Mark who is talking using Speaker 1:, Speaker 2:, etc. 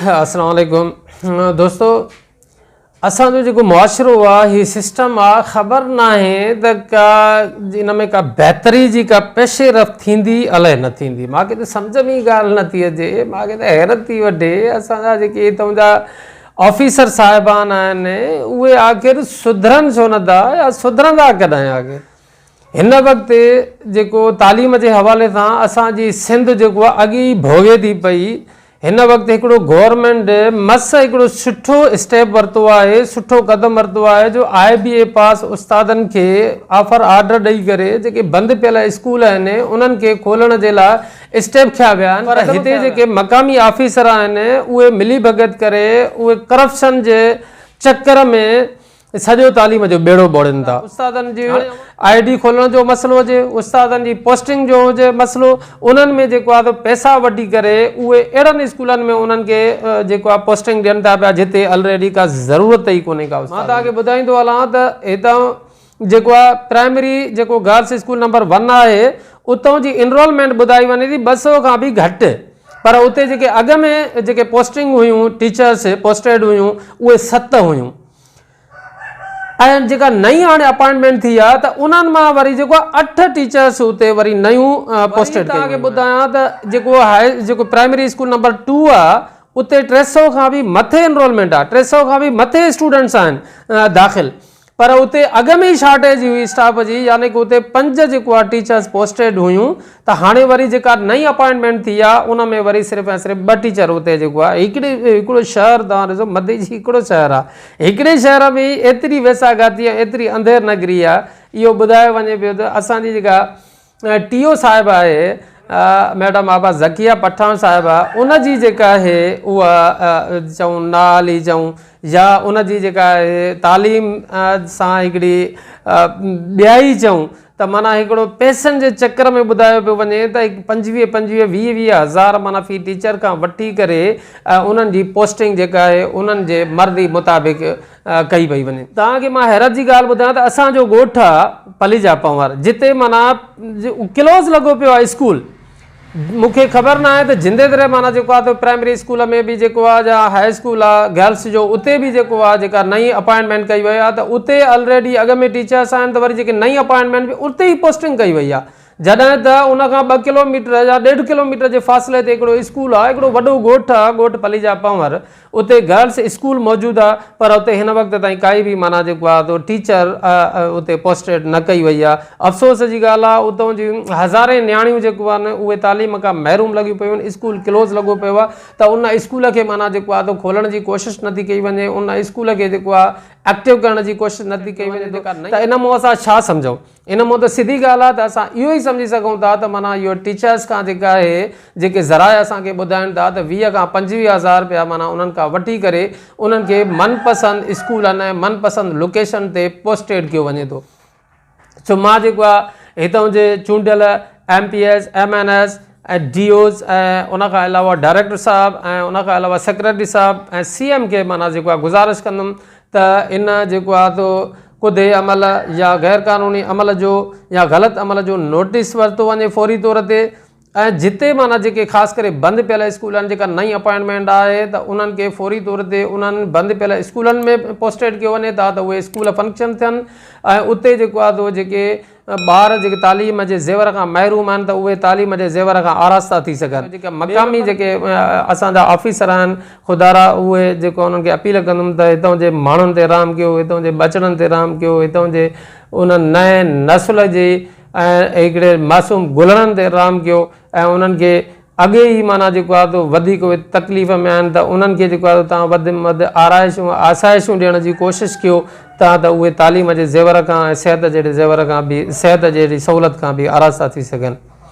Speaker 1: السلام عليڪم دوستو اسان جو جيڪو معاشرو آهي هي سسٽم آهي خبر نه آهي ته ڪا ان ۾ ڪا بهتري جي ڪا پيش رفت ٿيندي الاء نه ٿيندي ماکي ته سمجھ ۾ ڳالھ نه ٿي اچي ماکي ته حيرت ٿي وٺي اسان جا جيڪي هتون جا آفيسر صاحبان آهن اهي آخر سڌرن ڇو نه ٿا يا سڌرندا ڪڏهن آخر؟ هن وقت جيڪو تعليم جي حوالي سان اسان جي سنڌ جيڪو آهي اڳ ئي ڀوڳي ٿي پئي هن وقت هڪڙو گورنمينٽ مس هڪڙو سٺو اسٽيپ ورتو آهي سٺو قدم ورتو آهي جو آء بي اي پاس استادن کي آفر آرڊر ڏئي ڪري جيڪي بند پيل اسڪول آهن انهن کي کولڻ جي لاء اسٽيپ کنيا ويا آهن پر هتي جيڪي مقامي آفيسر آهن اهي ملي ڀڳت ڪري اهي ڪرپشن جي چڪر ۾ سڄو تعليم جو ٻيڙو ٻوڙين ٿا استادن جي آء ڊي کولڻ جو مسئلو هجي استادن جي پوسٽنگ جو هجي مسئلو انهن ۾ جيڪو آهي پئسا وٺي ڪري اهي اهڙن اسڪولن ۾ انهن کي جيڪو آهي پوسٽنگ ڏين ٿا پيا جتي الريڊي ڪا ضرورت ئي ڪونهي ڪا استاد مان توهان کي ٻڌائيندو هلان ته هتان جيڪو آ پرائمري جيڪو گرلس اسڪول نمبر ون آهي اتون جي انرولمينٽ ٻڌائي وڃي ٿي ٻه سو کان به گهٽ پر اتي جيڪي اڳ ۾ جيڪي پوسٽنگ هيون ٽيچرس پوسٽيڊ هيون اهي ست هيون ۽ جيڪا نئين هاڻي اپائنٽمينٽ ٿي آ ته انهن مان وري جيڪو آ اٺ ٽيچرس اتي وري نيون پوسٽيڊ ڪيون ويون ٻڌايان ته جيڪو هاء جيڪو پرائمري اسڪول نمبر ٽو آ اتي ٽي سو کان به مٿي انرولمينٽ آ ٽي سو کان به مٿي اسٽوڊنٽس آهن داخل پر اتي اڳ ۾ ئي شارٽيج هئي اسٽاف جي يعني ڪه اتي پنج جيڪو آهي ٽيچرز پوسٽيڊ هيون ته هاڻي وري جيڪا نئين اپائنٽمينٽ ٿي آهي ان ۾ وري صرف ۽ صرف ٻه ٽيچر اتي جيڪو آهي هڪڙي هڪڙو شهر توهان ڏسو مدي جي هڪڙو شهر آهي هڪڙي شهر ۾ ايتري ويساگاتي ايتري انڌير نگري آهي اهو ٻڌايو وڃي پيو ته اسان جي جيڪا ٽي او صاحب آهي ميڊم آبا ذڪيه پٺاڻ صاحبه ان جي جيڪا آهي اها چون نالي چون يا ان جي جيڪا آهي تعليم سان هڪڙي ٻيائي چون ته مانا هڪڙو پيسن جي چڪر ۾ ٻڌايو پيو وڃي ته پنجويهه پنجويهه ويهه ويهه هزار مانا في ٽيچر کان وٺي ڪري انهن جي پوسٽنگ جيڪا آهي انهن جي مرضي مطابق ڪئي پئي وڃي توهان کي مان حيرت جي ڳالهه ٻڌايان ته اسان جو ڳوٺ آ پليجا پنهور جتي معنيٰ ڪلوز لڳو پيو آ اسڪول مون کي خبر نه آهي ته جندي دريا معنيٰ جيڪو آ ته پرائمري اسڪول ۾ به جيڪو آ جا هاء اسڪول آ گرلس جو اتي به جيڪو آ جيڪا نئين اپائنٽمينٽ ڪئي وئي آ ته اتي الريڊي اڳ ۾ ٽيچرس آهن ته وري جيڪي نئين اپائنٽمينٽ به اتي ئي پوسٽنگ ڪئي وئي آ جڏهن ته ان کان ٻه ڪلوميٽر يا ڏيڍ ڪلوميٽر جي فاصلي تي هڪڙو اسڪول آ هڪڙو وڏو ڳوٺ آ ڳوٺ پليجا پنهور اتي گرلس اسڪول موجود آ پر اتي هن وقت تائين ڪائي به معنيٰ جيڪو آ تو ٽيچر اتي پوسٽيڊ نه ڪئي وئي آ افسوس جي ڳالهه آ اتون جي هزارين نياڻيون جيڪو آ نه اهي تعليم کان محروم لڳيون پيون آهن اسڪول ڪلوز لڳو پيو آ ته ان اسڪول کي معنيٰ جيڪو آ تو کولڻ جي ڪوشش نه ٿي ڪئي وڃي ان اسڪول کي جيڪو آ ايڪٽو ڪرڻ جي ڪوشش نه ٿي ڪئي وڃي ته ان مون اسان ڇا سمجهون. ان مون ته سڌي ڳالهه آهي ته اسان اهو ئي سمجهي سگهون ٿا ته معنيٰ اهو ٽيچرس کان جيڪا اهي جيڪي ذرائع اسان کي ٻڌائين ٿا ته ويهه کان پنجويهه هزار رپيا معنيٰ انهن کان وٺي ڪري انهن کي من پسند اسڪولن ۽ من پسند لوڪيشن تي پوسٽيڊ ڪيو وڃي ٿو سو مان جيڪو آهي هتان جي چونڊيل M P S M N S ۽ D Os ۽ ان کان علاوه ڊائريڪٽر صاحب ۽ ان کان علاوه سيڪريٽري صاحب ۽ سي ايم کي معنيٰ جيڪو آهي گذارش ڪندم ته ان جيڪو آهي تو ڪڌي عمل يا غير قانوني عمل جو يا غلط عمل جو نوٽيس ورتو وڃي فوري طور تي ۽ جتي معنيٰ جيڪي خاص ڪري بند پيل اسڪول آهن جيڪا نئين اپائنٽمينٽ آهي ته انهن کي فوري طور تي انهن بند پيل اسڪولن ۾ پوسٽيڊ ڪيو وڃي تان ته اهي اسڪول فنڪشن ٿين ۽ اتي جيڪو آهي تو جيڪي ٻار جيڪي تعليم جي زيور کان محروم آهن ته اهي تعليم جي زيور کان آراسته ٿي سگهن. جيڪي مقامي جيڪي اسان جا آفيسر آهن خدارا اهي جيڪو انهن کي اپيل ڪندم ته هتان جي ماڻهن تي رحم ڪيو هتان جي ٻچڙن تي رحم ڪيو هتان جي انهن نئين نسل جي ۽ هڪڙي معصوم گلڙن تي رحم ڪيو ۽ انهن کي اڳي ئي معنيٰ جيڪو آهي تو وڌيڪ اهي تڪليف ۾ آهن ته انهن کي جيڪو آهي تو توهان وڌ م وڌ آرائشون ۽ آسائشون ڏيڻ جي ڪوشش ڪيو تان ته اهي تعليم جي زيور کان ۽ صحت جهڙي زيور کان به صحت جهڙي سهولت کان به آراستا ٿي سگهن.